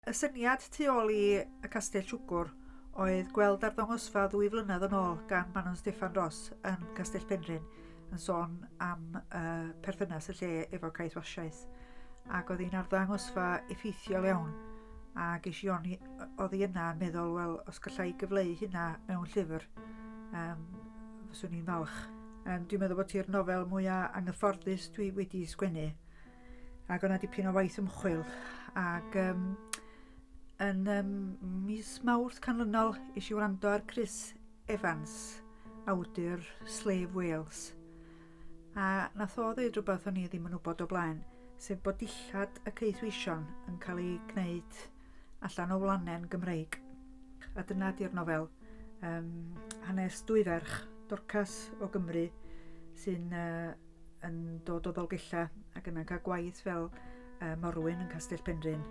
Y syniad tu ôl i Y Castell Siwgwr oedd gweld arddangosfa ddwy flynedd yn ôl gan Manon Steffan Ros yn Castell Penrhyn yn sôn am yy perthynas y lle efo caethwasiaeth ac oedd hi'n arddangosfa effeithiol iawn a ges i oni oddi yna yn meddwl wel os galla i gyfleu hynna mewn llyfr yym fyswn i'n falch. Yym dwi'n meddwl bod hi'r nofel mwya' anghyfforddus dwi wedi sgwennu. Ac oedd 'na dipyn o waith ymchwil ac yym yn yym mis Mawrth canlynol es i wrando ar Chris Evans, awdur Slave Whales, a wnaeth o ddeud rywbeth o'n i ddim yn wybod o blaen, sef bod dillad y caethweision yn cael eu gwneud allan o wlanen Gymreig. A dyna 'di'r nofel. Yym, hanes dwy ferch, Dorcas o Gymru sy'n yy... yn dod o Ddolgellau ac yna'n cael gwaith fel yy morwyn yn Castell Penrhyn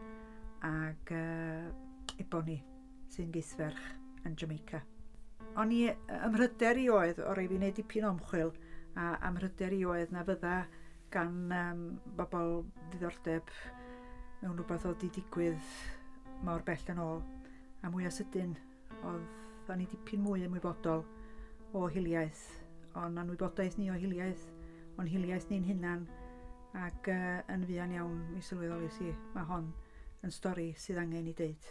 ac yy Eboni sy'n geithferch yn Jamaica. O'n i... ym mhryder i oedd, o' raid fi wneud dipyn o ymchwil, a ym mhryder i oedd na fydda gan yym bobl ddiddordeb mewn rhywbeth oedd 'di digwydd mor bell yn ôl a mwya sydyn. Oeddan ni dipyn mwy ymwybodol o hiliaeth, o'n anwybodaeth ni o hiliaeth, o'n hiliaeth ni'n hunan, ac yy yn fuan iawn mi sylweddolais i, ma' hon yn stori sydd angen ei deud.